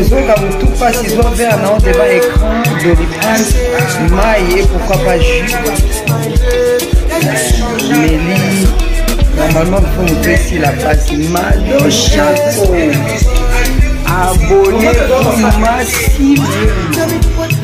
ozoyoka butu mpasi zwa vere na odeba écran doliprane mai ye pourquoi pas jus meli normalement mpo moto esila mpasi mado chaco abone masimu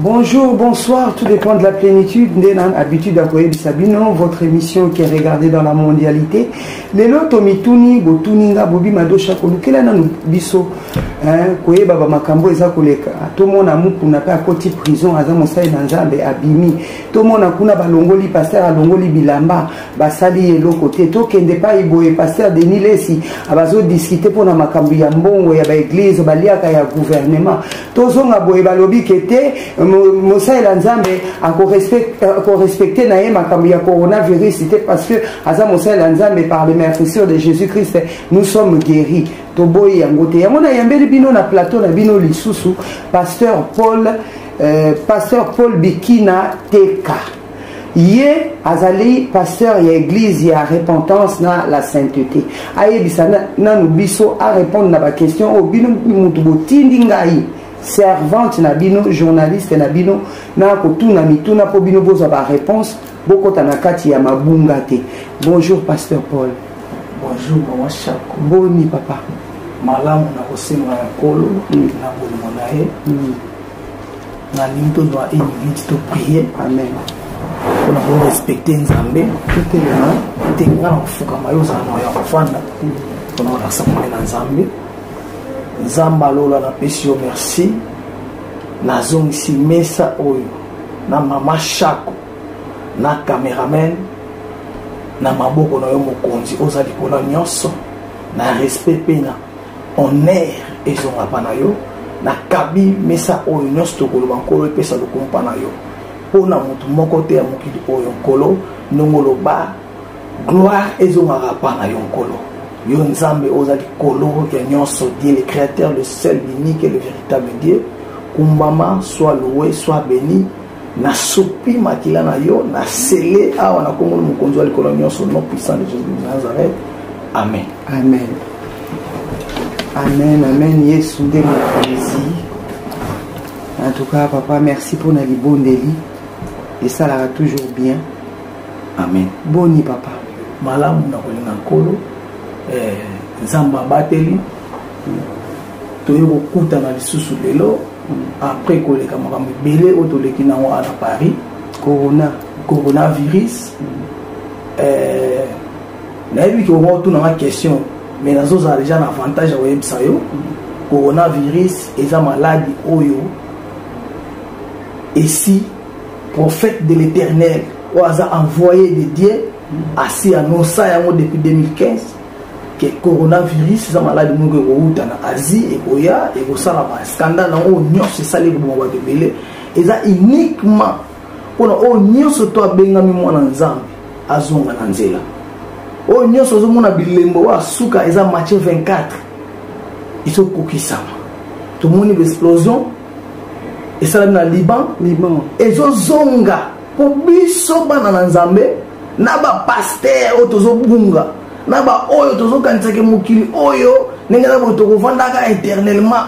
Bonjour, bonsoir, tout dépend de la plénitude. Ndenan, habitude à Koye Sabino, votre émission qui est regardée dans la mondialité. Les loto mituni, botuninga, bobi madosha, kolukela na biso. Hein, Koye baba makambo eza koleka. Tout le monde a moukou n'a pas à côté prison, aza mosai nanzambe, abimi. Tout le monde a kuna balongoli, pasteur a longoli bilamba, basali et l'autre côté. Tout kende pas iboye, pasteur Denis Lessi, abazo discuter pour na makambo ya mbongo, ya ba église, baliaka ya gouvernement. tozonga boye balobi ke te mosalela nzambe akorespecte euh, na ye makambo ya coronavirus te parce que aza mosalela nzambe par le mercissure de jésus christ nous sommes guéri toboyi yango te yango nayambeli bino na plateau na bino lisusu pasteur paul euh, pasteur paul bikina teka ye azali pasteur ya église ya repentance na la sainteté ayebisa nanu biso arépondre na baquestion oyo bino motu botindi ngai servante na bino journaliste na bino na kotuna mituna mpo bino bozwa baréponse bokota na kati ya mabunga te bonjour pasteur paul bonjour mama chako boni papa malamu na kosenga ya nkolo mm. na bolingo na ye mm. nalingi tozwa une minute to prier amen mpona korespecte nzambe totelema te nga na kofukama yo ozala na ya kofanda mpona kolakisa kombe na nzambe nzambe alola napesi yo merci nazongisi mesa oyo na mama shako na cameraman na maboko na yo mokonzi oza likolo nyonso na respect mpe na honneur ezonga mpa na yo nakabi mesa oyo nyonso tokoloba nkolo epesa lokumu mpa na yo mpo na moto moko te ya mokili oyo nkolo ndongo oloba gloire ezongaka mpa na yo nkolo yo nzambe oza likolo ya nyonso die le créateur le seul l'unique et le véritable dieu kumbama soit loue soit béni nasopi makila na yo na sele awa na kombo na mokonzi wa likolo nyonso non puissant de jesus de nazareth amen amen amen amen yesu nde mokonzi en tout cas papa merci mpo na libondeli esalaka toujours bien amen boni papa malamu na kolinga nkolo eh, nzambe abateli toye kokutana lisusu lelo après koleka makambo ebele oyo toleki nango wana na paris corona coronavirus eh, nayebi ke omo otuna nga question mais nazozala deja na avantage ya koyebisa yo coronavirus eza maladi oyo esi prophète de l'éternel oyo aza envoyé de dieu asi anonsa yango depuis 2015 ke coronavirus eza maladi moko ekowuta na asie ekoya ekosala bascandale yango oyo nyonso esali ekoboma bato ebele eza uniquement mpona oyo nyonso to abengami mwana nzambe azonga na nzela oyo nyonso ozomona bilembo oyo asuka eza matie 24 ezokokisama tomoni baexplosion esalami na liban ezozonga po biso bana na nzambe na bapaster oyo tozobunga na baoyo tozokanisaka mokili oyo ndenge na boye tokovandaka éternellement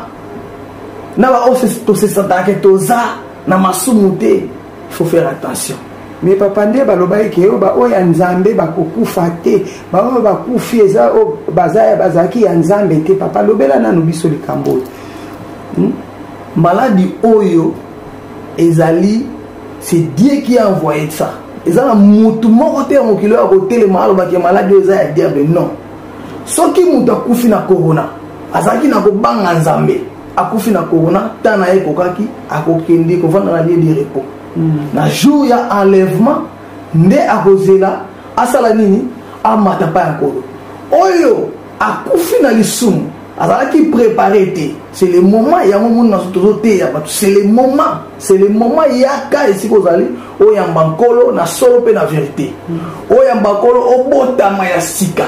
na baoyo tosesataka toza na masumu te faut faire attention me papa nde balobaki ke oyo baoyo ya nzambe bakokufa te baoyo bakufi eza oyo baza bazalaki ya nzambe te papa lobela nanu biso likambo oyo hmm? maladi oyo ezali c'est dieu qui a envoyé ça eza na motu moko te ya mokili oyo akotelema alobaki ya maladi oyo eza ya diable non soki moto akufi na corona azalaki na kobanga nzambe akufi na corona ntan na ye ekokaki akokende kovanda na lie de repos hmm. na jour ya enlèvement nde akozela asala nini amata mpa ya nkolo oyo akufi na lisumu azalaki prépare te c'est le moment yango moni naso tozoteya bato c'est le moment c'est le moment yaka esika ozali oyamba nkolo na solo mpe na verité oyamba nkolo obotama ya sika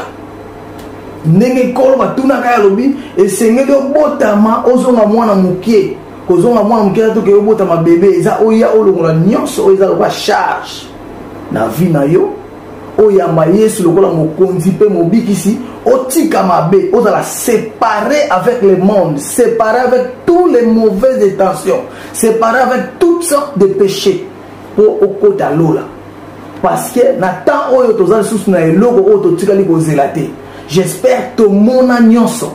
ndenge nkolo batunaka alobi esengeli obotama ozonga mwana mokie kozonga mwana mokie na toke obotama bebe eza oya olongola nyonso oyo eza lokola charge na vie na yo oyamba yesu lokola mokonzi mpe mobikisi otika mabe ozala séparé avec le monde séparé avec tous les mauvaises intentions séparé avec toutes sortes de péchés mpo okota lola parce que na temps oyo toza lisusu na eloko oyo totikali kozela te j'espère tomona nyonso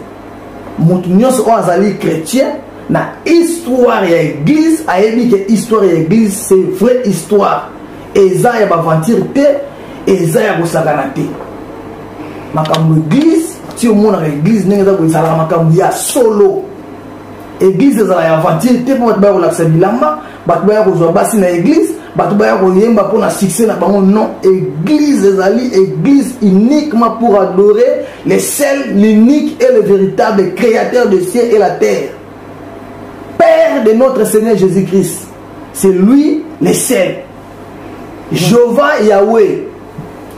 moto nyonso oyo azali chrétien na histoire ya église ayebi ke histoire ya église c'est vraie histoire eza ya baventure te eza ya kosakana te makambo eglise ti omonaka eglise ndenge eza kozalaka makambo ya solo eglise ezala ya aventure te mpo bato baya kolakisa bilamba bato baya kozwa basi na eglise bato baya koyemba mpo na succès na bango non eglise ezali eglise uniquement pour adorer le seul l'unique et le véritable créateur de ciel et la terre père de notre seigneur jésus-christ C'est lui le seul. Jéhovah Yahweh.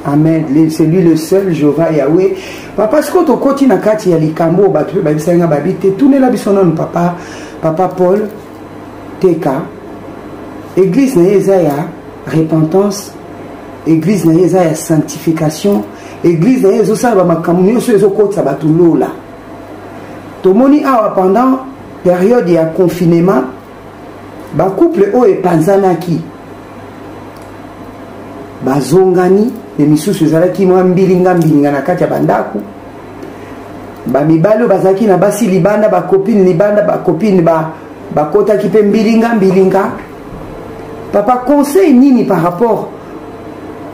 Amen. C'est lui le seul, Jéhovah Yahweh. Papa, ce que tu côté na kati ya likambo batu ba bisa nga babi te tourner la biso non papa, papa Paul TK. Église na yeza ya repentance, église na yeza ya sanctification, église na yezo sala ba makambo nyoso ezo kotsa batu lola. Tomoni awa pendant période ya confinement bacouple oyo epanzanaki bazongani me misusu ezalaki mwa mbilinga mbilinga na kati ya bandako bamibali oyo bazalaki na basi libanda bakopine libanda bakopine bakotaki mpe mbilinga mbilinga papa conseil nini par rapport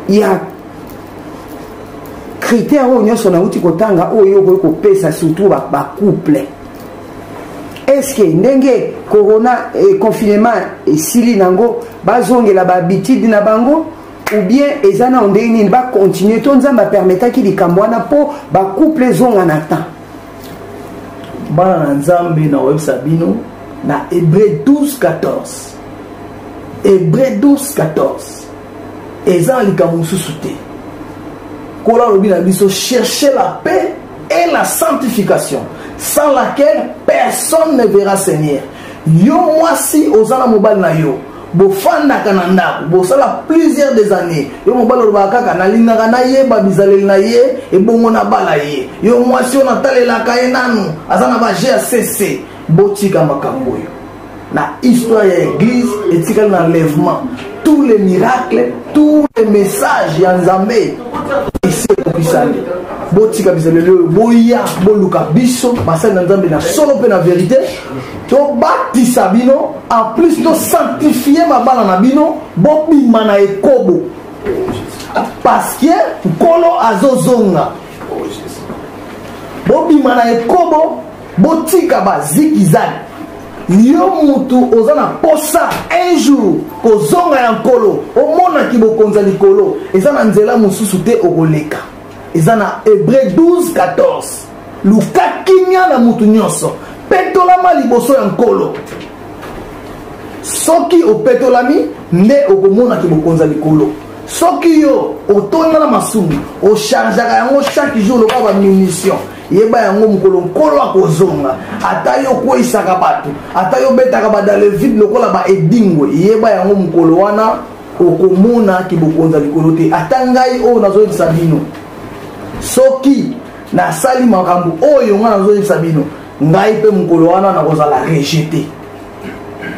ya critère oyo nyonso nauti kotanga oyo okoki kopesa surtout bacouple ba eske ndenge corona eh, confinement esili nango bazongela bahabitude na bango ou bien eza nao ndenge nini bacontinue to nzambe apermetaki likambo wana mpo bacouple ezonga na temps bana na nzambe na oyebisa bino na hebreu 12 14 hebreu 12 14 eza na likambo mosusu te kola alobi na biso cherche la paix et la sanctification sans laquelle personne ne verra seigneur yo mwasi oza na mobali na yo bofandaka na ndako bosala plusieurs des années yo mobali olobaka kaka nalingaka nayeba bizaleli na ye ebongo nabala ye yo mwasi oyo natalelaka ye nanu aza na baje ya sese botika makambo oyo na histoire ya eglise etikali na enlèvement tous les miracles tous les messages ya nzambe esi ekokisami botika bizaleli lelo boya boluka biso basali na nzambe na solo mpe na verite tobatisa bino en plus tosanctifie mabala na bino bobima na ekobo parce que nkolo azozonga bobima na ekobo botika ba zikizani yo mutu oza na posa un jour kozonga ya nkolo omona kibokonza likolo eza na nzela mosusu te okoleka eza na hebreu 12 14 luka kimia na mutu nyonso petolama liboso ya nkolo soki opetolami nde okomona kibokonza likolo soki yo otonda na masumu ochargeaka yango chaque jour lokola bamunition yeba yango mokolo nkolo akozonga ata yo okweisaka bato ata yo obetaka badalevide lokola baedingwe yeba yango mokolo wana okomona kibokonzi ya likolo te ata ngai oyo nazoyebisa bino soki nasali makambo oyo ngai nazoyebisa bino ngai mpe mokolo wana nakozala rejete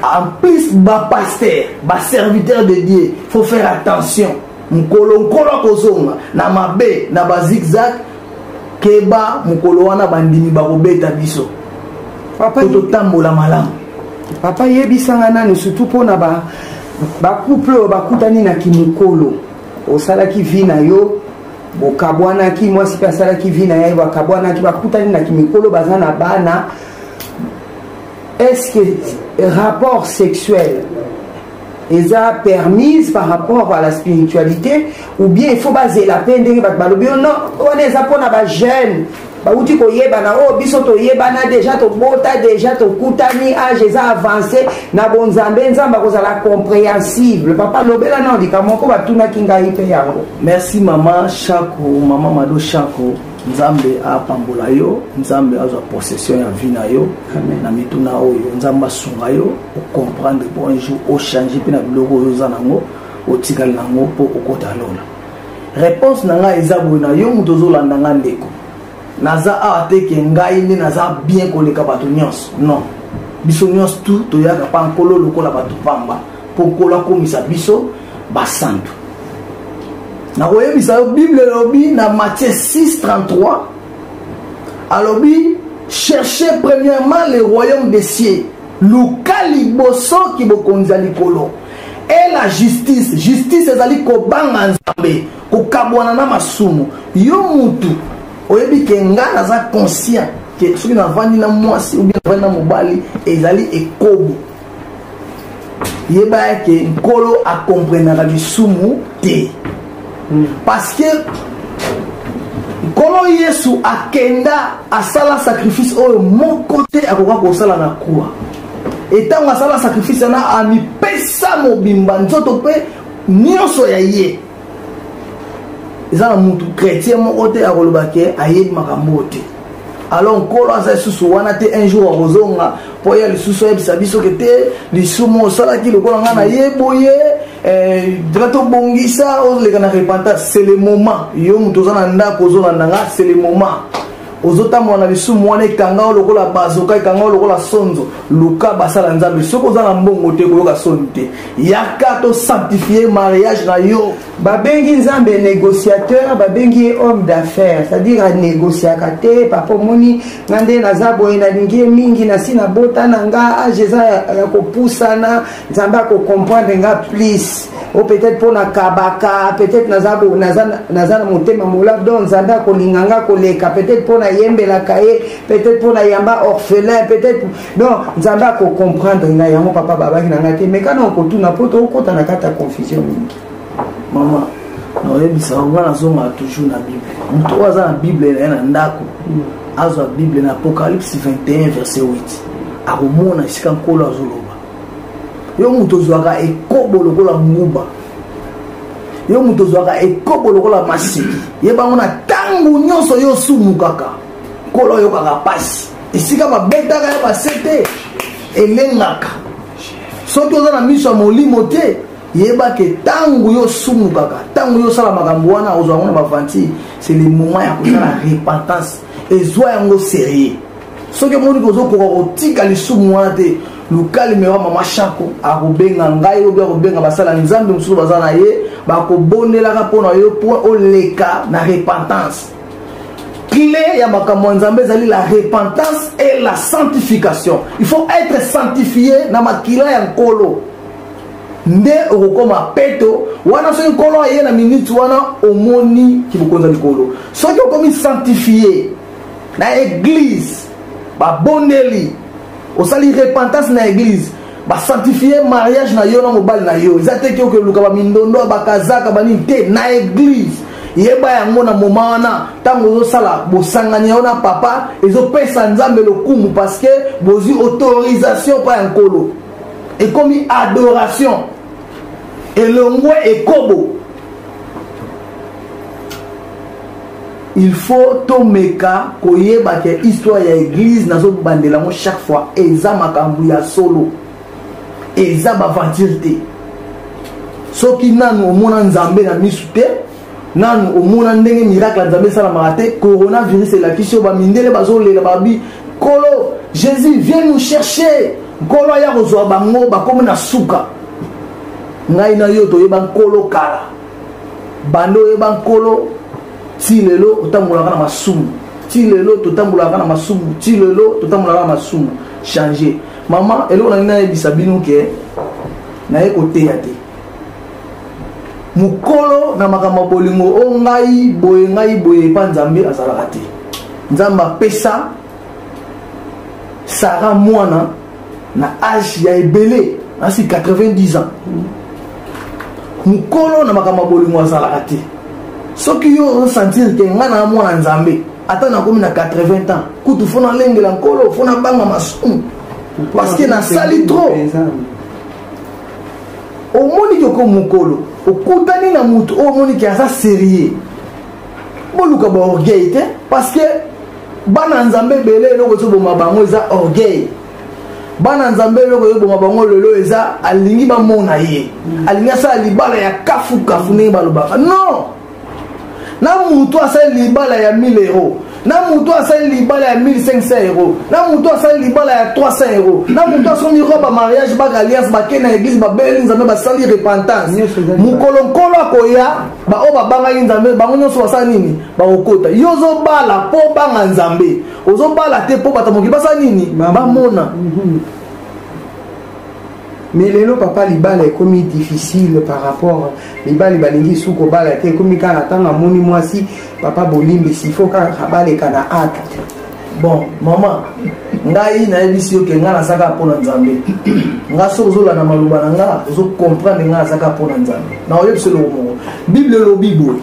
en plus bapaster baserviteur de dieu faut faire attention mokolo nkolo akozonga na mabe na bazigzag keba mokolo wana bandimi bakobeta biso po totambola malamu papa yebisanga nani surtout mpo na bacouple oyo bakutani na kimokolo osalaki vi na yo bokabwanaki mwasi mpe asalaki vi na ye bakabwanaki bakutani na kimikolo baza na bana est ce que rapport sexuel eza permise par rapport à la spiritualité ou bien il faut bazela mpe ndenge bato balobi yo non wana eza mpona bajeune bauti koyebana oyo oh, biso toyebana deja tobota deja tokutani age eza avance na bonzambe nzambe akozala compréhensible papa lobela nao likambo moko batunaki ngai mpe yango merci mama shako mama mado shako nzambe apambola yo nzambe azwa possession ya vie na yo na mituna oyo nzambe asunga yo ocomprendre po un jour ochange mpe na biloko oyo oza nango otikali nango mpo okota lola réponse na ngai eza boye na yo moto ozolanda ngai ndeko naza awa te ke ngai nde naza bien koleka bato nyonso non biso nyonso tu toyaka mpa nkolo lokola bato pamba mpo nkolo akomisa biso basantu nakoyebisa yo bible elobi na matthieu 633 alobi cherche premièrement le royaume des cieux luka liboso ki bokonzi ya likolo e la justice justice ezali kobanga nzambe kokabwana na masumu yo mutu oyebi ke ngai naza conscient ke soki navandi na mwasi obi navandi na mobali ezali ekobo yeba ete nkolo akomprenaka lisumu te hmm. parce que nkolo yesu akenda asala sacrifice oyo moko te akoka kosala na kuwa etango asala sacrifice wana amipesa mobimba nzoto mpe nyonso ya ye eza na mutu chrétien moko te akoloba ke ayebi makambo oyo te alors nkolo aza lisusu wana te un jour akozonga mpo ya lisusu ayebisa biso ke te lisumu osalaki lokola ngai naye boye eh, nga tobongisa oleka na repentance c'est le moment yo moto oza na ndako ozolanda nga c'est le moment ozotambola na lisumu wana ekanga yo lokola bazoka ekanga yo lokola sonzo luka basala nzambe soki oza na mbongo te koyoka soni te yaka to sanctifie mariage na yo babengi nzambe négociateur babengi ye homme d'affaires c'est-à-dire anégociaka te papa omoni nga nde naza boye nalingi ye mingi nasi nabota na nga age eza ya kopusana nzambe ako comprendre nga please o peut-être mpo na kabaka peut-être naza, naza, naza na motema molab donc nzambe akolinga nga koleka peut-être mpo nayembelaka ye peut-être mpo nayamba orphelin peut-être donc nzambe akocomprendre nga yango papa babaki na nga te mais kana okotuna mpo tokokota na kati ya confusion mingi mama naoyebisa bango nga nazongaka toujours na bible moto oyo aza na bible na ye na ndako mm. azwa bible na apocalypse 21 verset 8 akomona esika nkolo azoloba yo moto ozwaka ekobo lokola nguba yo moto ozwaka ekobo lokola masiki yebango na ntango nyonso yo osumukaka nkolo oyokaka mpasi esika babetaka ya base te elengaka soki oza na miso ya molimo te yebaka ntango yo osumukaka ntango yo osala makambo wana ozwa yango na bavanti c'est le moment ya kosala repentance ezwa yango serieux soki omoni ke ozokoka kotika lisumu wana te luka limero ya mama shako akobenga ngai obi akobenga basala nzambe mosusu baza na ye bakobondelaka mpo na yo mpo oleka na repentance clé ya makambo ya nzambe ezali la repentance et la sanctification il faut être sanctifié na makila ya nkolo nde okokoma peto wana soki nkolo aye na minute wana omoni kibokonzi ya likolo soki okomi sanctifie na eglise babondeli osali repentance na eglise basanctifie mariage na yo na mobali na yo eza te kioke luka bamindondo ya bakazaka banini te na eglise yeba yango na moma wana ntango ozosala bosangani yango na papa ezopesa nzambe lokumu parceke bozwi autorisation mpa ya nkolo ekomi adoration elongwe ekobo il faut tomeka koyeba ke histoire ya église nazobandela yango chaque fois eza makambo ya solo eza baventure te soki nanu omona nzambe na misu te nanu omona ndenge miracle ya nzambe esalamaka te coronavirus elakisi yo bamindele bazolela babi nkolo jésus vient nous chercher nkolo aya kozwa bango bakomi na suka ngai na yo toyeba nkolo kala banda oyeba nkolo ti lelo otambolaka na masumu ti lelo totambolaka na masumu ti lelo totambolaka na masumu change mama eloko nangi nayebisa bino ke naye koteya te mokolo na makambo ya bolingo o ngai boye ngai boye epa nzambe azalaka te nzambe apesa sara mwana na age ya ebele nasi 90 ans mokolo na makambo ya bolingo azalaka te soki yo osentir te ngai na mwana nzambe ata nakomi na 80 ans kutu fo nalengela nkolo fo nabanga masumu parce que nasali trop omoni ke oko mokolo okutani na moto oyo omoni ke aza serieux boluka baorgueil te parce que bana nzambe ebele eloko ezoboma bango eza orgueil bana nzambe eloko ezoboma bango lelo eza alingi bamona ye mm. alingi asala libala ya kafukafu ndenge balobaka non na motu asali libala ya 1000 euro na motu asali libala ya 1500 euro na motu asali libala ya 300 euro na motu asombi roba mariage baka alliance bakei na eglise babeli nzambe basali repentance mokolo nkolo akoya baoyo babangaki nzambe bango nyonso basala nini bakokota yo ozobala mpo obanga nzambe ozobala te mpo bato mokili basala nini bamona mhm. mais lelo papa libala ekomi difficile par rapport mibali balingi su kobala te ekomi kaka ntango amoni mwasi papa bolimbisi fo kaka baleka na acte bon mama ngai nayebisi yo ke ngai nazaka mpo na nzambe ngai soki ozolanda maloba na ngai ozokomprendre ngai nazaka mpo na nzambe na oyebisi eloko moko bible elobi boye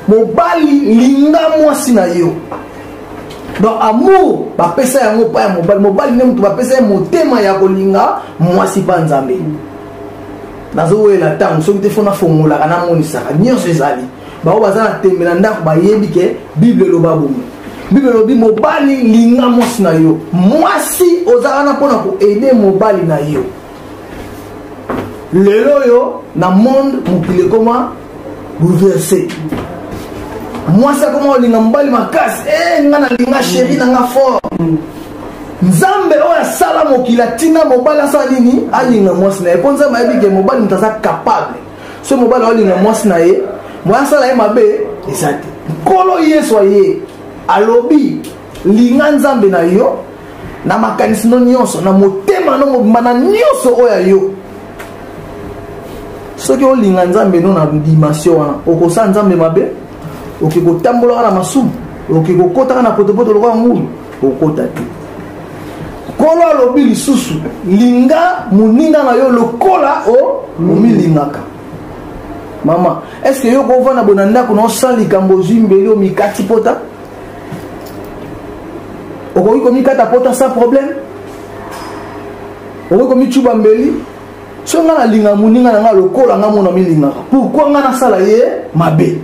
mobali linga mwasi na yo donc amour bapesa yango epai ya mobali mobali nde moto bapesa ye motema ya kolinga mwasi mpa nzambe nazowelela ntango soki te fo nafongolaka namonisaka nyonso ezali bango baza na tembe na ndako bayebi ke bible eloba bomo bible elobi mobali linga mwasi na yo mwasi oza wana mpo na koede mobali na yo lelo oyo na monde mokili ekoma bouleverse mwasi akoma olinga mobali makasi e eh, nga nalinga sheri na nga fort nzambe oyo asala mokili atinda mobali asala nini alinga mwasi na ye mpo nzambe ayebi ke mobali moto aza capable so mobali aolinga mwasi na ye moya asala ye mabe eza te nkolo yesu aye alobi linga nzambe na yo na makanisi no nyonso na motema no mobimba na nyonso oyo ya yo soki olinga nzambe no na dimension wana okosala nzambe mabe okoki kotambolaka na masumu okoki kokotaka na potopoto lokola ngulu okota te nkolo alobi lisusu linga moninga na yo lokola omilingaka mama eske yo kovanda bona ndako na osala likambo ozwi mbeli omikati pota okoki komikata pota sans problème okoki komicuba mbeli soki ngai nalinga moninga na ngai lokola ngai mona milingaka pourkui ngai nasala ye mabe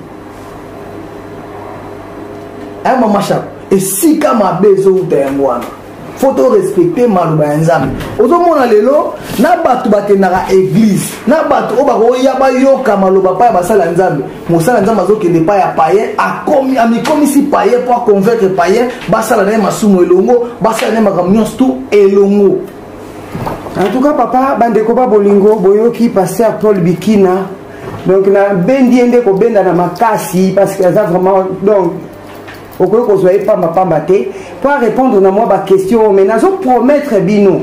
aya eh, mamashaka esika mabe ezowuta yango wana faut to respecte maloba ya nzambe ozomona lelo na bato bakendaka eglize na bato oyo bakoya bayoka maloba pa ya basala ya nzambe mosala ya nzambe azokende pa ya paye amikomisi paye mpo aconvaincre paye basala na ye masumu elongo basala na ye makambo nyonso tu elongo en tout cas papa bandeko ba bolingo boyoki paster paul bikina donc nabendi ye nde kobenda na makasi parce que aza vraiment donc okoki kozwa ye pamba pamba te mpo arépondre na mwa baquestion oyo mai nazo promettre bino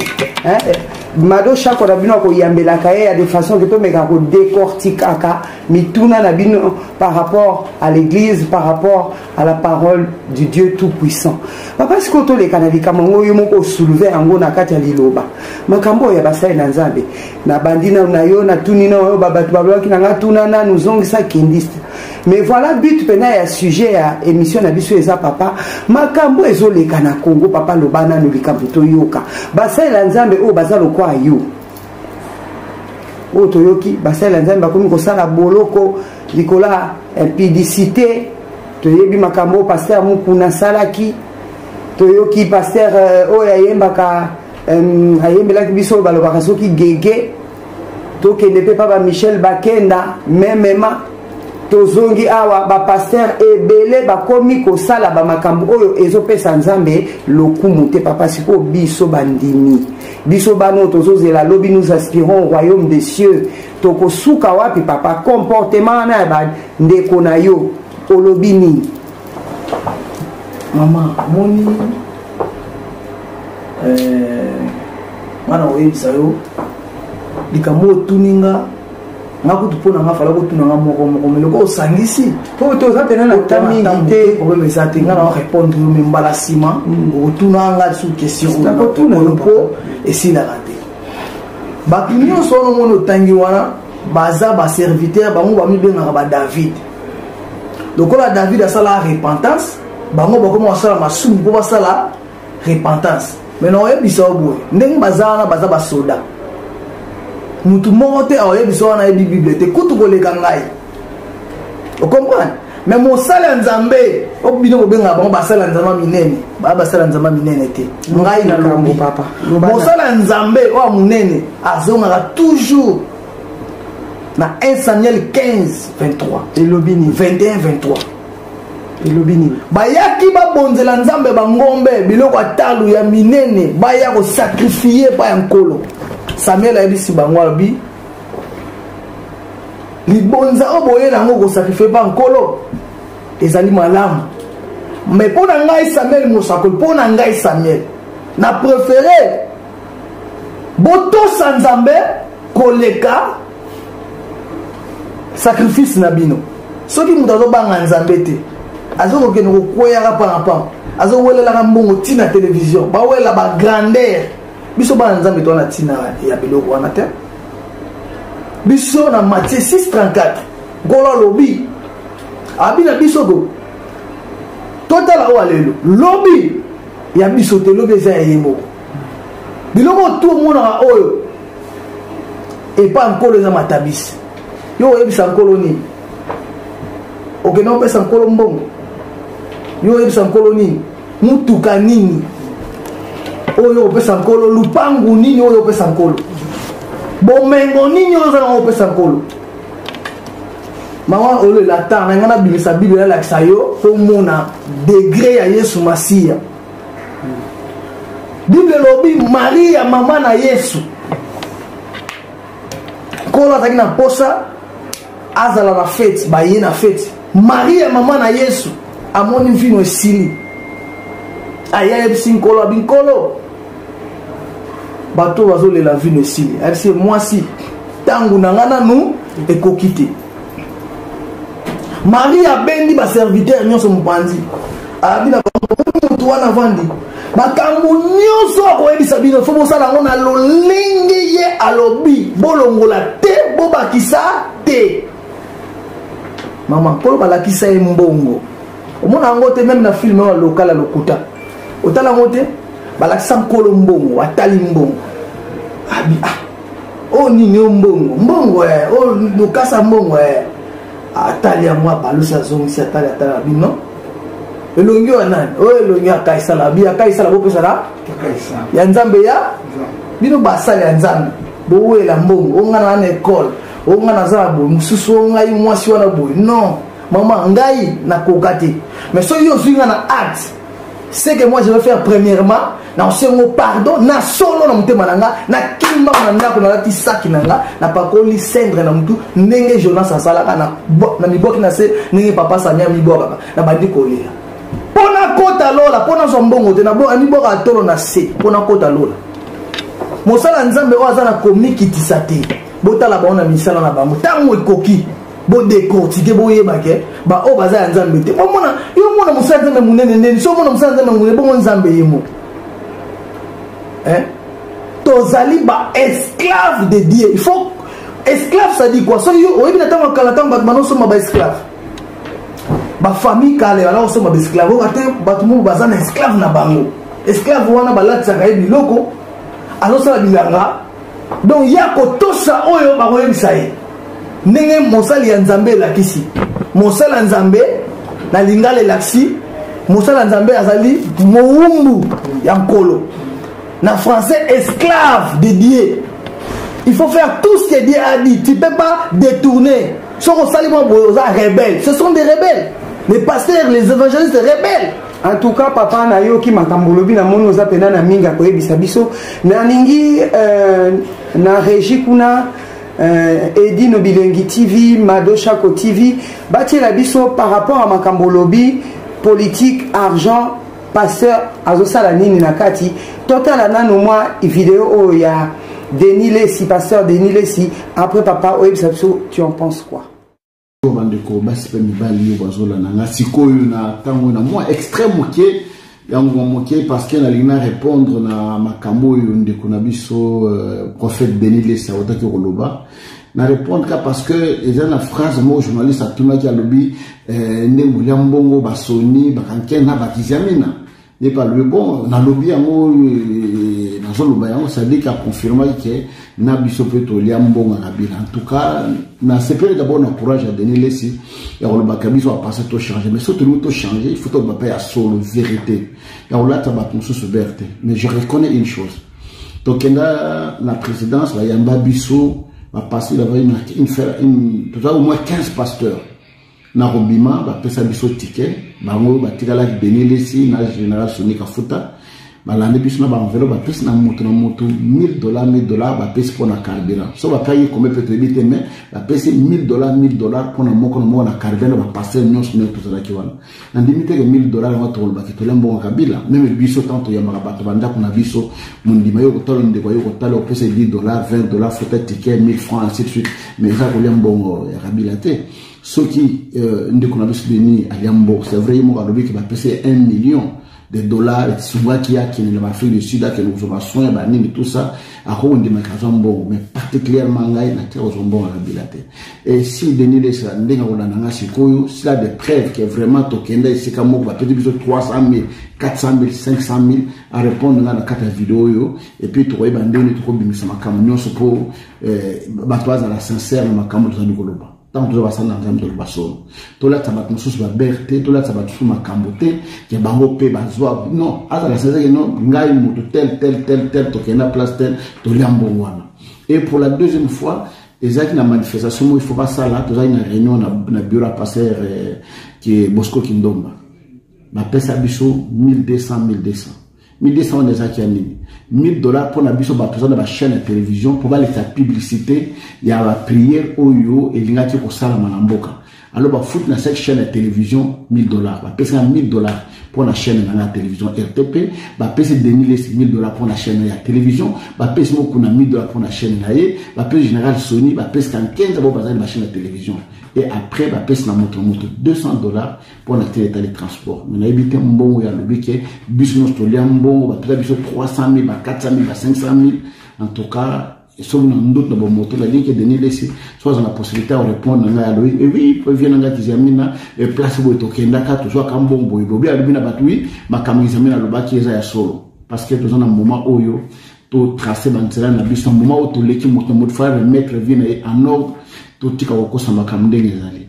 mado shako na bino akoyambelaka ye ya de façon ke tomeka kodecortikaka mituna na bino par rapport à l'église par rapport à la parole du dieu tout puissant papa sikoyo toleka na likambo yango yo moko osouleve yango na kati ya liloba makambo oyo ya basali na nzambe nabandi nano na yo natuni na oyo babato balobaki na ngai tuna nanu zongisa kendiste mais voilà but mpena ya sujet ya émission na biso eza papa makambo ezoleka na congo papa loba nano likambo toyoka basalela nzambe oyo baza lokola yo oyo toyoki basalela nzambe bakomi kosala boloko likolo ya impidicité toyebi makambo oyo paster mokuna asalaki toyoki paster euh, oyo ayembaka euh, ayembelaki biso oyo balobaka soki gege tokende mpe pa ba michel bakenda memema tozongi awa bapastere ebele bakomi kosala bamakambo oyo ezopesa nzambe lokumu te papa sikoyo biso bandimi biso bana oyo tozozela lobi nous aspirons royaume des cieux tokosuka wapi papa comportement wana ya bandeko na yo olobi nini mama moni eh, nga na koyebisa yo likambo otuni nga nga kutu mpo na nga fala kotuna nga moko moko me loko osangisi mpo toza mpena na ta mingi te problème eza te nga na orépondre yo me mbala nsima mm. okotuna nga lisusu question oyo mpo esilaka te bato nyonso wana omoni otangi wana baza baserviteur bango bamibengaka badavid lokola david asala repentance bango bakoma basala masumu mpo basala repentance me nakoyebisa yo boye ndenge baza wana baza basoda motu moko te akoyebisa wana ayebi bible te kutu koleka ngai okomprane me mosala ya nzambe o bino bobengaka bango basala nzambe minene baa basala nzambe minene te ngai na lombi mosala ya nzambe oyo ya monene azongaka toujours na 1 samuel 15 23 elobi ni 21 23 elobi nini bayaki babonzela nzambe bangombe biloko ya talo ya minene baya kosakrifie epai ya nkolo samuel ayebisi bango alobi libonza oyo boye na yango kosakrifie epai ya nkolo ezali malamu me mpo na ngai samuel mosakoli mpo na ngai samuel na prefere botosa nzambe koleka sacrifice na bino soki moto azobanga nzambe te azokokende kokweyaka parapam azowelelaka mbongo ntina televizio bawelela bagrandeur biso bana nzambe towana ntina ya biloko wana te biso na matie 634 nkolo alobi abi na biso ko totala oyo alelo lobi ya biso te lobi eza ya ye moko biloko tu omonaka oyo epa nkolo eza matabisi yo oyebisa nkolo nini okenda kopesa nkolo mbongo yo oyebisa nkolo nini motuka nini oyo opesa nkolo lupangu nini oyo opesa nkolo bomengo nini oyo oza nango opesa nkolo mama olela ata na ngai nabimisa biblia alakisa yo mpo omona degre ya yesu masiya bible elobi maria mama na yesu nkolo azalaki na mposa azala na feti baye na feti maria mama na yesu amoni mvino esili aya ayebisi nkolo abi nkolo bato bazolela vino esili ayebisi mwasi ntango na ngai nanu ekoki te maria abendi baserviteur nyonso mopanzi abi na motu wana avandi makambo nyonso akoyebisa bino fo bosala yango na lolenge ye alobi bolongola te bobakisa te mama nkolo balakisa ye mbongo omona yango te meme na filme oyo lokala lokuta otala yango te balakisa nkolo mbongo atali mbongo abi ah oyo nini oyo mbongo mbongo eh, oyo lokasa mbongo eh. atali yango abalusi azongisi atali atala bino elongi oyo nani oyo elongi akaisala bi akaisala bopesana ya nzambe ya bino basali ya nzambe bowela mbongo oyo ngai na ekole oyo ngai naza na boye mosusu oyo ngai mwasi wana boye non mama ngai nakoka te mais soki yo ozwi ngai na arte ce que moi je vais faire premièrement naosengo pardon na solo na motema na nga nakimba na ndako nalati saki na nga napakoli cendre na motu ndenge jonas asalaka na mibwaki na se ndenge papa samia mibwakaka nabandi kolela mpo nakota lola mpo nazwa mbongo te namibwaka tolo na se mpo nakota lola mosala nzambe oyo aza na komikitisa te botala bango na misala na bango ntango ekoki bo décortiquer boyeba ke baoyo baza ya nzambe te bomona yo omona mosala nzambe monene ndeni so omona mosala nzambe monene bongo nzambe ye moko eh? tozali ba esclave de dieu il faut esclave sadi kua soki yo oyebi na ntango ya kala ntango bato banosomba ba esclave bafamille kala ebala kosomba baesclave oyo ate bato moko baza na esclave na bango esclave wana balatisaka ye biloko azosala bilanga donc ye akotosa oyo bakoyebisa ye ndenge mosali ya nzambe elakisi mosali ya nzambe na lingala elakisi mosali ya nzambe azali mowumbu ya nkolo na français esclave de dieu il faut faire tout ce que dieu a dit tu peux pas détourner soki osali mwa boye oza rebelle ce sont des rebelles les pasteurs les évangélistes rebelles en tout cas papa nayoki makambo olobi namoni oza mpena na mingi akoyebisa biso nalingi euh, na régi kuna euh, edino bilengi tv mado shako tv batiela biso par rapport ya makambo olobi politique argent pasteur azosala nini na kati totala nano mwa video oyo ya denis lesi pasteur denis lesi après papa oyebisa biso tu en pense quoi oyo bandeko basi mpe mibali oyo bazolanda nga sikoyo na ntango na mwa extrait moke yango mwa moke parce que nalingi na répondre na makambo oyo ndeko na biso euh, prophète denis lesa autaki koloba na répondre ka parce que eza na phrase moko journaliste atunaki alobi euh, nde molia mbongo basoni bakanke na bakizamina epa lui bon nalobi yango euh, nazoloba yango sadiki aconfirmaki ke na biso mpe tolia mbongo na bino en tout cas nasepeli d'abord na courage ya denis lesi ya kolobaka biso apasa tochange mais so tolingi tochange il faut toloba mpe ya solo vérité ya kolata bato mosusu bere te mais je reconnais une chose tokenda na présidence bayamba biso bapasteur avai toza au moins 15 pasteurs na kobima bapesa biso tike bango batikalaki denis lesi na général soni kafuta balandi biso na baenvelo bapesi na moto na moto 1000 dollar 1000 dollar bapesi mpo na carburant so bapaki kome mpe toyebi te mai bapesi 1000 dollar 1000 dollar mpo na moko na moko na carburant na bapastere nyonso ndenge tozalaki wana nandimi teke 1000 dollar yango tokolobaki tolia mbongo kabila meme biso ntango toyambaka bato bandako na biso mondima yo kotala ndeko yo kotala opesa 10 dollar 20 dollar fota ticket 1000 franc ainsi de suite mais eza kolia mbongo ya kabila te soki euh, ndeko na biso denis alia mbongo c'est vrai ye moko alobi ke bapesa ye 1 million de dollars esungaki akende na baafrique du sud akende kozwa basoin ya banini tout ça akoki kondimaka azwa mbongo mais particulièrement ngai natika kozwa mbongo na bila te et si denis lesela ndenge akolanda ngai sikoyo sila de preuve ke vraiment tokenda esika moko bapeti biso 300 000 400 000 500 000 arépondre ngai na kati ya video oyo epuis tokoyeba ndenge tokobimisa makambo nyonso mpo eh, bato bazala sincere na makambo tozali koloba ntango toza basali na nzambe toloba solo tolatisa bato mosusu babere te tolatisa bato mosusu makambo te ya bango mpe bazwa non azala sincere non ngai moto tel tel tel tel tokende na place tel tolia mbongo wana et pour la deuxième fois ezalaki na manifestation moko ifo basala tozalaki na réunion na, na bureau ya passer eh, bosco kindomba bapesa biso 1200 1200 1200 wana ezalaki ya nini 1000 dollars mpo na biso bato eza na bachaîne ya télévision mpo balekisa publicité ya bapriere oyo elingaki kosalama na mboka alo bafuti na cette chaîne ya télévision 1000 dollars bapesi na 1000 dollars mpo na chaîne na nga ya télévision rtp bapesi denis lesi 1000 dollars mpo na chaîne ya télévision bapesi mokuna 1000 dollars mpo na chaîne na ye bapesi général sony bapesi kankenza bao bazali na bachaîne ya télévision et après bapesi na moto na moto 200 dollars mpo na tina etali transport me nayebi te mbongo ya lobi ke biso nyonso tolia mbongo bapesa biso 300 000 ba 400 000 ba 500 000 en tout cas soki na ndoto na bomoto nalingi edeni lesi so aza na possibilité ya korépondre na ngai alobi ewi eh vie na ngai tizamina eh, place boye tokendaka tozwaka mbongo boye bobi alobi na bato wi makambo izamina alobaki eza ya solo parce que toza na moment oyo totrace banzela na biso na moment oyo toleki moto na moto fa remettre vie na ye en ordre totika kokosa makambo ndenge ezali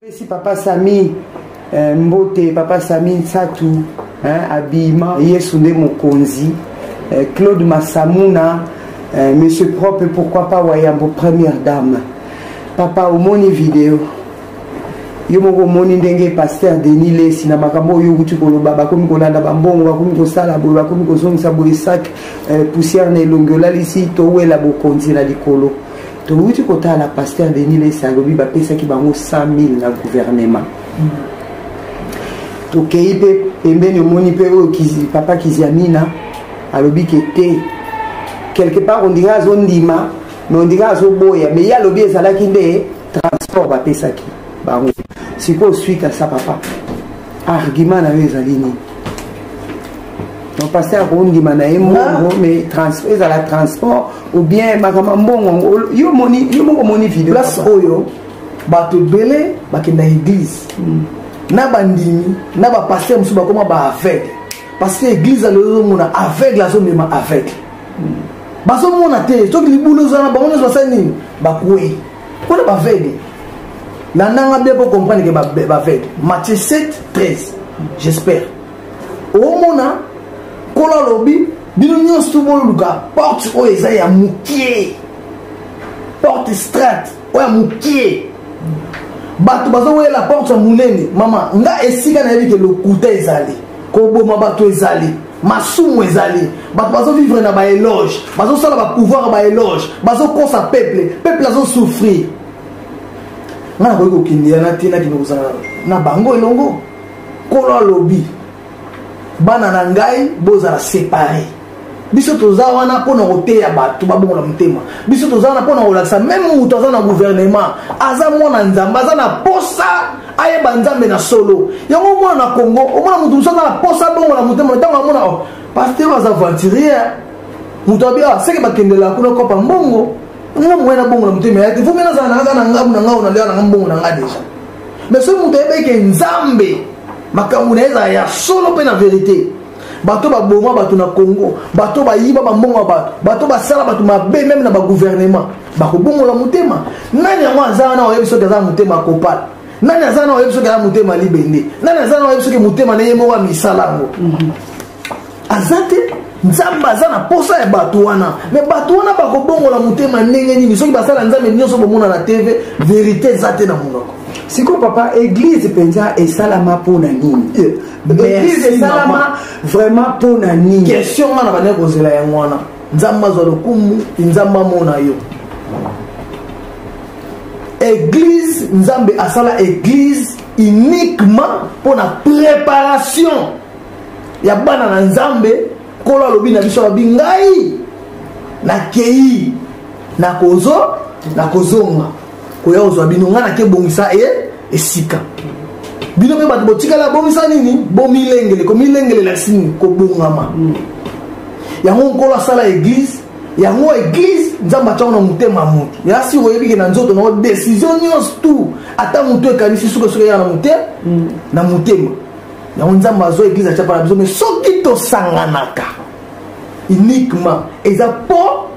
pesi papa sami eh, mbote papa sami nsatu eh, abima yesu nde mokonzi eh, claude masamuna eh, monsieur propre pourquoi pas wayambo première dame papa omoni video yo moko omoni ndenge paster denis lesi na makambo oyo okuti koloba bakomi kolanda bambongo bakomi kosala boye bakomi kozongisa boye sak eh, poussière na elongi olalisi towela bokonzi na likolo towuti kotala pasteur denis lesi alobi bapesaki bango 100 000 na gouvernement mm. tokei mpe pembeni omoni mpe oyo papa kiziamina alobi ke te quelque part ondika azondima mais ondika azoboya mais ye alobi ezalaki nde transport bapesaki bango sikoyo suite asa papa argument na yo ezali nini pasteur akondima na ye mbongo mais ezala transport ou bien makambo ya mbongo yo moko omoni video place oyo bato ebele bakenda église hmm. na bandimi na bapasteur mosusu bakoma baaveugle parce que église alozomona aveugle azomema aveugle hmm. bazomona te soki libulu ozana bango nyonso basali nini bakwei Kuna ba veille. La nanga bien pour comprendre que ba ba veille. Matthieu 7 13. J'espère. Au mona kola lobi bino nyonso to boluka porte oyo eza ya mokie porte strat oyo ya mokie bato bazowelela porte ya monene mama nga esika nayebi ke lokuta ezali koboma bato ezali masumu ezali bato bazovivre na baeloge bazosala bapouvoir baeloge bazokosa peuple peuple azosouffrir ngai nakoki kokende yana te nakende kozala na bango elongo nkolo alobi bana na ngai bozala separe biso toza wana mpo na koteya bato babongola motema biso toza wana mpo na kolakisa meme moto aza na guvernema aza mwana nzambe aza na posa ayeba nzambe na solo yango omona na congo omona moto mosu aza na posa bongo na motema ntango amona oh, pasteur aza aventurier moto abi ah, seke bakendelaka kuna kopa mbongo nga moye na bongo na motema yaki vomi nazala nanga na ngabu na ngao nalia nanga mbongo na nga deja mais soki moto ayebeke nzambe makambo na ye ezala ya solo mpe na verite bato baboma bato na congo bato bayiba bambongo ya bato bato basala bato mabe meme na bagouvernement bakobongola motema nani yango aza wana oyebi soki aza motema kopala nani aza wana oyebi soki aza motema libende nani aza wana oyebi soki motema na ye moko ya misala yango mhm. aza te nzambe aza na posa ya bato wana me bato wana bakobongola motema ndenge nini soki basala nzambe nyonso bomona na tv verité eza te na monoko sikoyo papa église mpenza esalama mpo na nini église esalama vraiment mpo na nini question nga na bandaki kozela yango wana nzambe azwa lokumu nzambe amona yo église nzambe asala église uniquement mpo na préparation ya bana na nzambe nkolo alobi na biso alobi ngai nakei nakozo nakozonga koya kozwa bino ngai nake bongisa e esika bino mpe bato botikala bongisa nini bomilengele komilengelelasi nini kobongama mm. yango nkolo asala eglize yango eglize nzambe atyango na motema ya moto ya siko oyebike na nzoto nango desizio nyonso tu ata motu ekanisi sukasoka ya na motema mm. na motema yango nzambe azwa eglize atya mpana biso me soki tosanganaka uniquement eza mpo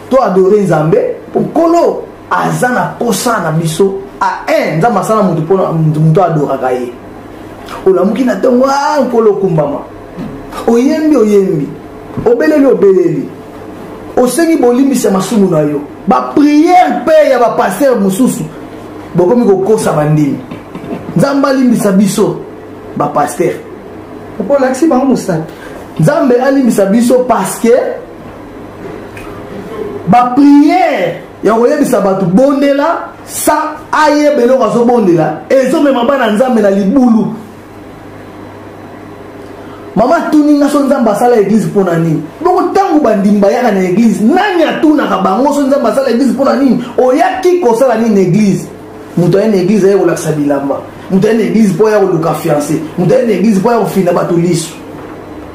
to adore nzambe mpo nkolo aza na posa na biso a un nzambe asala moto mpona moto adoraka ye olamuki na ntongo a nkolo okumbama oyembi oyembi obeleli obeleli osengi bolimbisi ya masumu na yo bapriere mpe ya bapastere mosusu bokomi kokosa bandimi nzambe alimbisa biso bapastere mpo olakisi bango mosapi nzambe alimbisa biso parce que bapriere ya koyebisa bato bondela sa ayeba eloko azobondela ezomema bana nzambe na libulu mama atuni nga so nzambe asala eglize mpo na nini bongo ntango bandimi bayaka na eglize nani atunaka bango so nzambe asala eglize mpo na nini oyaki kosala nini na eglize moto aye na eglize aye kolakisa bilamba moto aye na eglize mpo aya koluka fiance moto aye na eglize mpo aya kofina bato liso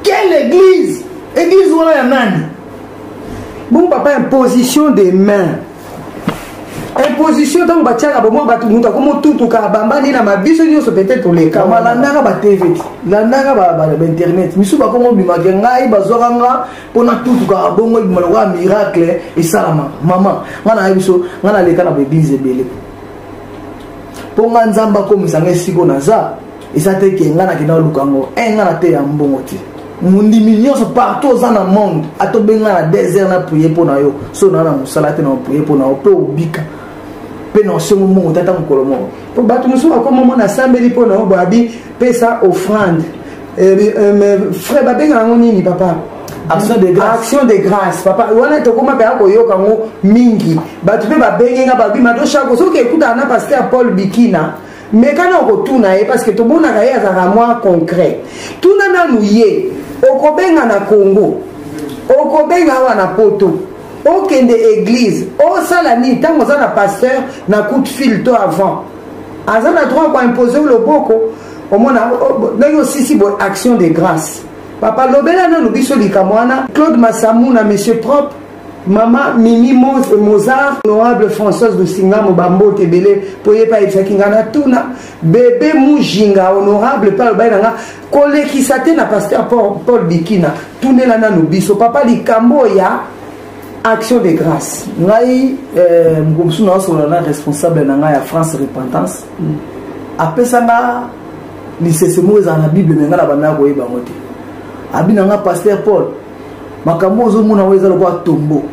quelle eglize Église wana ya nani? Bon papa imposition des mains. Imposition ntango batiaka bomwa bato moto akomi otutuka abambani na mabiso nyonso pete toleka kama landaka ba tv ti landaka bainternet misusu bakomi obimaka ngai bazwaka nga mpo natutukaka bongo ebima lokola miracle esalamaka mama ngai nayebi biso ngai naleka na baeglize ebele mpo ngai nzambe akomisa ngai esiko naza eza te ke ngai nakenda oluka yango e eh, ngai nateya mbongo te mondimi nyonso partout oza na monde ata obenga na desert na priye mpo na yo so naa na mosala te na opriye mpo na yo mpe obika mpe na osengo mbongo te ata mokolo moko mpo bato mosusu bakoma mona asambeli mpo na yo boabi pesa offrande eh, eh, frais babenga yango nini papa action de grâce action de grâce papa wana tokoma mpe akoyoka yango mingi bato mpe babengi nga babi mato shako soki ekutana na paster paul bikina meka na okotuna ye parce que tomonaka ye azalaka mwa concret tuna nanu ye okobenga na congo okobenga awa na poto okende église osala nini ntango oza na pasteur na coup de fil to avant aza na droit koimpose o loboko omona ndenge osisi boye action de grâce papa lobela nanu biso likambo wana claude masamuna monsieur propre mama mimi mozar honorable françoise lusingamo bambote ebele mpo ye mpe ayebisaki ngai na tuna bebe mujinga honorable mpe alobaki na ngai kolekisa te na paster paul bikina tunela nanu biso papa likambo ya action de grâce ngai eh, mokolo mosusu naosolola na responsable na ngai ya france repentance mm. apesa nga lisese moko ezala na bible me ngai na bandaka koyeba yango te abi na ngai paster paul makambo ozomona yango eza lokola tombo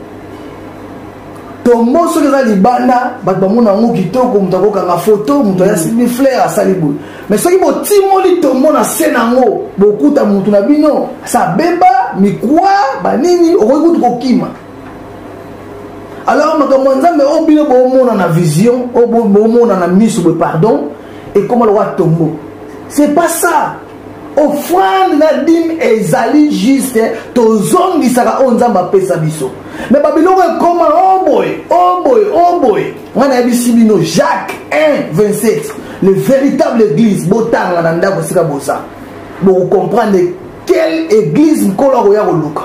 tombo soki eza libanda bato bamona yango kitoko moto akokanga foto moto ayasimbi mm. flaire asali boye mais soki botimoli tombo na se na yango bokuta motu na bino sa beba mikwa banini okoki kutu kokima alors makambo ya nzambe oyo bino bomona na vision oyo bomona na miso boye pardon ekoma lokola tombo c'est pas ça offrande na dime ezali juste tozongisaka oyo nzambe apesa biso me babiloko ekoma oboye oh oboye oh oboye oh ngai nayebisi bino jacques 1 27 le véritable église botanga na ndako esika boza bokokomprendre quelle église nkolo akoya koluka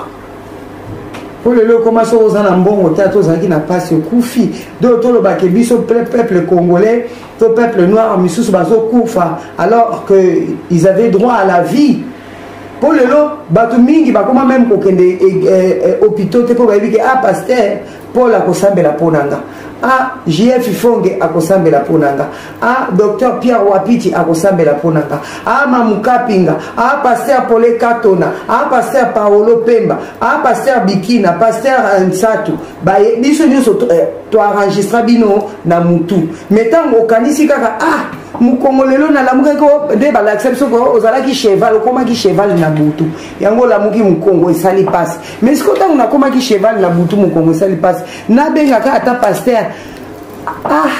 oyo lelo ekoma soki oza na mbongo te ata ozalaki na mpasi okufi do tolobake biso peuple congolais que peuple noir misusu bazokufa alors que ils avaient droit à la vie mpo lelo bato mingi bakoma meme kokende eh, eh, eh, hôpitaux te mpo bayebi ke ah paster paul akosambela mpo na nga ah jf fonge akosambela mpo na nga ah docteur pierre wapiti akosambela mpo na nga ah mamukapinga ah paster pole katona ah paster paolo pemba ah paster bikina paster nsatu baye biso nyonso to enregistra bino na mutu mais ntango okanisi kaka ah mokongo lelo nalamukaki nde balakisa biso ozalaki cheval okomaki cheval na butu yango olamuki mokongo esali mpasi mais sikoyo ntango nakomaki cheval na butu mokongo esali mpasi nabengaka ata paster ah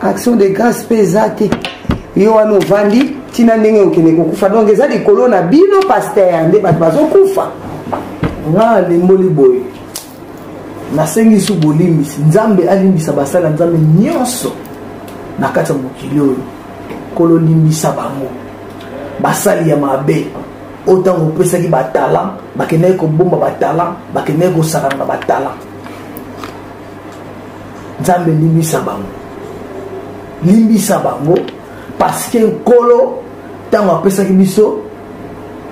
action de grâce mpe eza te yo wana ovandi ntina ndenge okende kokufa donc eza likolo na bino paster nde bato bazokufa nga nalimboli boye nasengi lisusu bolimbisi nzambe alimbisa basali ya nzambe nyonso na kati ya mokili oyo kololimbisa bango basali ya mabe oyo ntango opesaki batalan bakendaki kobomba batalan bakendaki kosakana batalan nzambe limbisa bango limbisa bango parceke nkolo ntango apesaki biso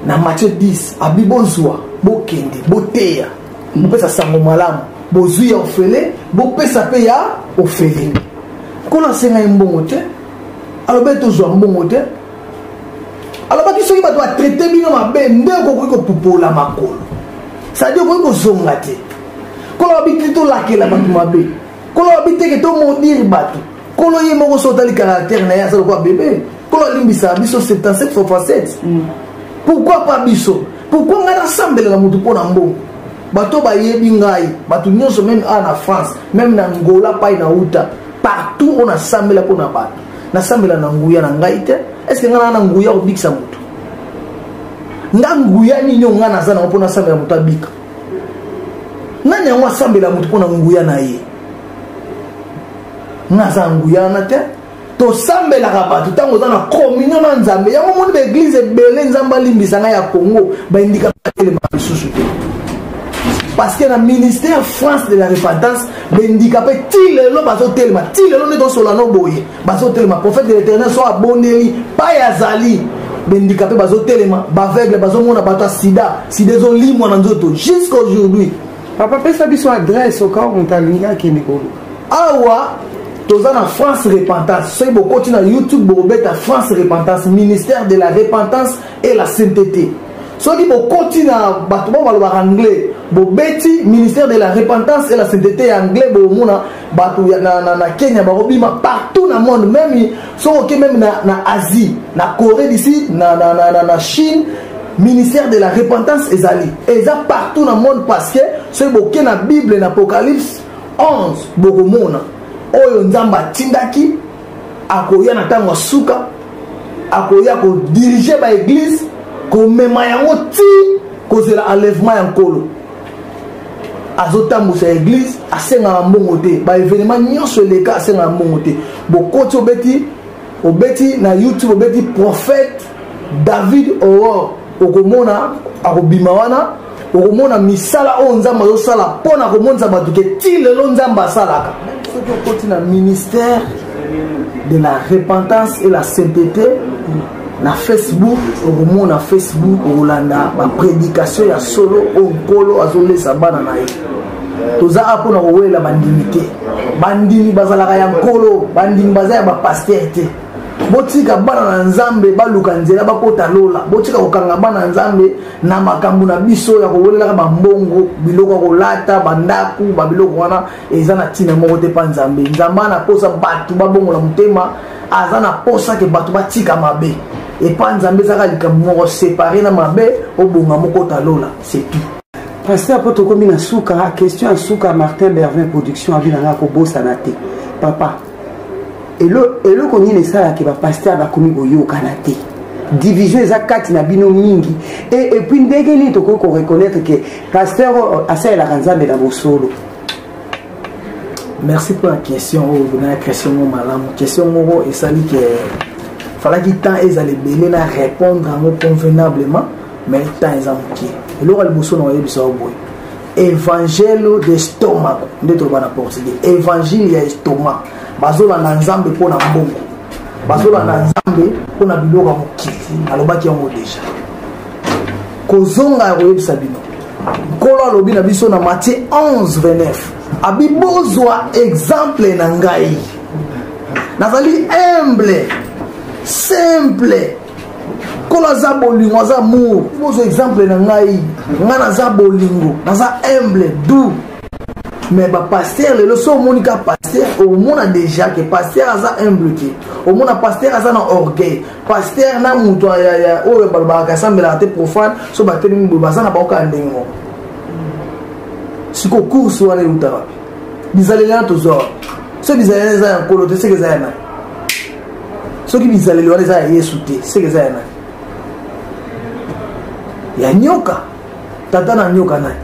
na mathieu 10 abi bozwa bokende boteya bopesa sango malamu bozwi ya ofele bopesa mpe ya ofele nkolo asengai mbongo te alobi ete ozwa mbongo te alobaki soki bato batraite bino mabe nde okoki kopupola makolo sadi okoki kozonga te nkolo babi te tolakela bato mabe nkolo babi teke tomodire bato kolo ye moko so otali caractère na ye aza lokola bebe kolo alimbisa biso 77 fois 7 mm. pourquoi pas biso pourquoi ngai nasambelaka motu mpo na mbongo bato bayebi ngai bato nyonso meme a na france meme na ngola pai na uta partout oyo nasambela mpo na bato nasambela na nguya na ngai te estce ngai naa na nguya kobikisa moto nga nguya nini oyo ngai naza nango mpo nasambela moto abika nani yango asambela moto mpo na nguya na ye naza na nguya wana te tosambelaka bato ntango oza na communion na nzambe yango omoni baeglize ebele nzambe alimbisa ngai ya congo baindika batelema lisusu te parce que na ministère france de la repentance bendika mpe ti lelo bazotelema ti lelo nde tosola no boye bazotelema prophète de l'éternel so abondeli pai azali bendika mpe bazotelema baveugle bazomona bato ya sida sida ezolimwa na nzoto jusqu'aujourd'hui papa pesa biso adresse okao moto alingi akende koluka awa toza na france repentance soki bokoti na youtube bokobeta france repentance ministère de la repentance et la sainteté soki bokoti na bato bao balobaka anglais bobeti ministère de la repentance et la sainteté ya anglais bomona bato ya na, na, na kenya bakobima partout na monde meme soki oke meme na, na asie na corée du sud na, na, na, na, na chine ministère de la repentance ezali eza partout na monde parce que soki boke na bible na apocalypse 11 bokomona oyo nzambe atindaki akoya na ntango ya suka akoya kodirige baeglize komema yango ti kozela enlèvement ya nkolo azotambusa eglise asengaka mbongo te baevenema nyonso eleka asengaka mbongo te bokoti obeti obeti na youtube obeti prophète david aurore okomona akobima wana okomona misala oyo nzambe azosala mpo na komonisa bato ke ti lelo nzambe asalaka soki okoti na ministère de la repentance et la sainteté na facebook okomona facebook okolanda bapredikatio ya solo oyo nkolo azolesa bana na ye toza a mpona kowelela bandimi te bandimi bazalaka ya nkolo bandimi baza ya bapaster te botika bana na nzambe baluka nzela bakota lola botika kokanga bana na nzambe na makambo na biso ya kowelelaka bambongo biloko ya kolata bandako babiloko wana eza na ntina moko te mpa nzambe nzambe ana mposa bato babongola motema aza na mposa ke bato batika mabe epa nzambe ezaka likambo moko separe na mabe obonga mokota lola c'est tout paster mpo tokomi na suka question ya suka martin bervin production abi nanga kobosana te papa eloko nini esalaka bapaster bakomi koyokana te division eza kati na bino mingi e epuis ndenge nini tokoki koreconnaitre ke paster oyo asalelaka nzambe na bosolo merci mpo na question oyo oh, na question moko malamu question moko esali ke falaki temps ezala ebele na répondre yango convenablement mais temps eza moke eloko ya liboso na oyebisa yo boye evangelo de stomako nde toloba na portugais evangile ya estoma bazolanda nzambe mpo na mbongo bazolanda nzambe mpo na biloko ya mokili alobaki yango deja kozonga ya koyebisa bino nkolo alobi na biso na matie 11 29 abi bozwa exemple na ngai nazali humble simple nkolo aza bolingo aza amour bozwa exemple na ngai ngai naza bolingo naza humble doux mais bapaster lelo so omoni ka paster omona déjà ke paster aza humble te omona paster aza na orgueil pasteur na moto ya oyo balobaka asambelaka te profane so batelemi boye baza na bango kaka ndenge moko sikoyo course wana euta wapi bizaleli wana tozwa wapi soki bizaleli eza ya nkolo te seke eza ya nani soki bizaleli wana eza ya yesu te seke eza ya nani ya nyoka tata na nyoka nani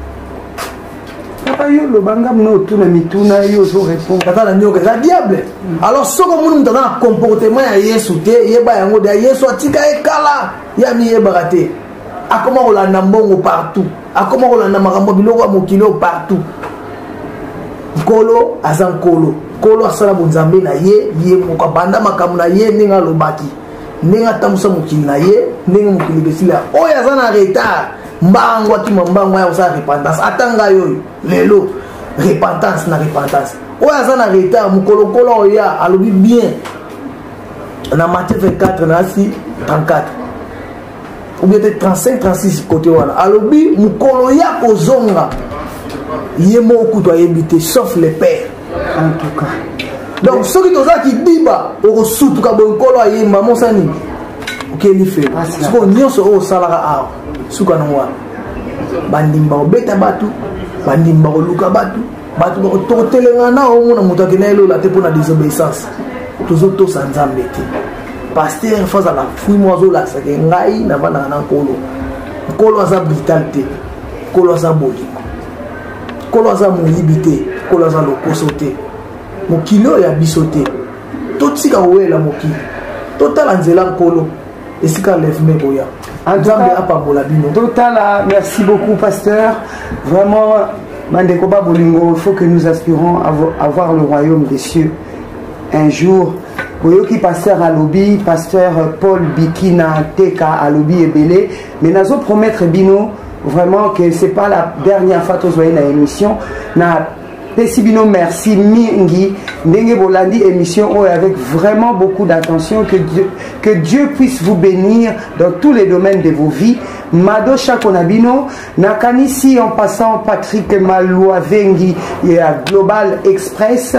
papa yo loba nga mna otuna mituna yo ozo répondre aza na nioka eza diable alors soki omoni moto aza na comportement ya yesu te yeba yango deya yesu atika ye kala ye amiyebaka te akoma kolanda mbongo partout akoma kolanda makambo biloko ya mokili oyo partout nkolo aza nkolo nkolo asala bonzambe na ye ye moko abanda makambo na ye ndenge alobaki ndenge atambusa mokili na ye ndenge mokili ebesila oyo aza na retard mbangu akima mbangu aya kosala repentance ata ngai oyo lelo repentance na repentance oyo aza na retard mokolokolo oya alobi bien na matie 24 nasi 34 oubien te 35 36 kote wana alobi mokolo ya kozonga ye moko kutu ayebi te sauf le père en tout cas donc soki toza kidiba okosutuka boye nkolo ayemba mosani okeli fe sikoyo nyonso oyo osalaka awa suka nango wana bandimi bakobeta bato bandimi bakoluka bato bato bakotelengana na omona moto akenda ye lola te mpo na désobéissance tozotosa nzambe te paster fo azala fui moko azolakisaka ngai navandaka na nkolo nkolo aza brital te nkolo aza bolingo nkolo aza moyibi te nkolo aza lokoso te mokili oyo ya biso te totika kowelela mokili totala nzela nkolo esika levme boya nzambe apambola bino totala merci beaucoup pasteur vraiment bandeko ba bolingo il faut que nous aspirons avoir le royaume des cieux un jour boyoki pasteur alobi pasteur paul bikina teka alobi ebele mais nazo promettre bino vraiment que c'est pas la dernière fois tozwai na émission na pesi bino merci mingi ndenge bolandi émission oyo avec vraiment beaucoup d'attention que Dieu, que Dieu puisse vous bénir dans tous les domaines de vos vies mado shako na bino nakanisi en passant Patrick Maloua Vengi ya Global Express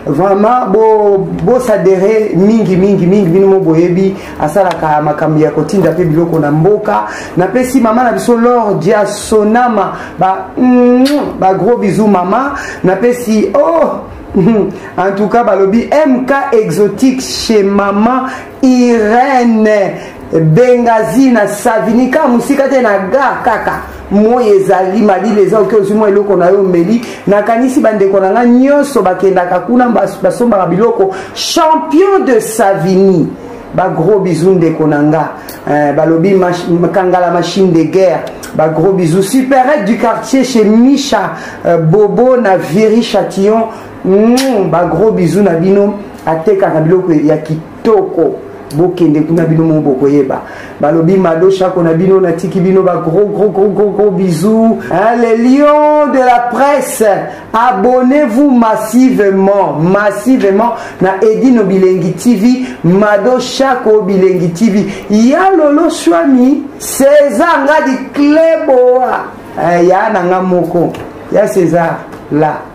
vraiment bo bosadere mingi mingi mingi bino mo boyebi asalaka makambo ya kotinda mpe biloko na mboka napesi mama na biso lor dia sonama ba, mm, ba gros bisou mama napesi oh en tout cas balobi mk exotique chez mama irene bengazi na savini kaka mosika te na ga kaka moi ezali malili eza oke ozwi mwa eloko na yo omeli nakanisi bandeko na ngai nyonso bakendaka kuna basombaka biloko champion de savini bagros bizu ndeko na nga eh, balobi kangala machine de guerre bagros bizu superette du quartier chez micha eh, bobo na viri chatillon Mmm, ba gros bisous na bino atekaka biloko ya kitoko bokende kuna bino moko bokoyeba balobi mado shako na bino natiki bino ba gros gros gros gros gros bisous hein, les lions de la presse abonnez-vous massivement massivement na edino bilengi tv mado shako bilengi tv ya lolo swami césar ngadi cleboa eh, ya na nga moko ya césar la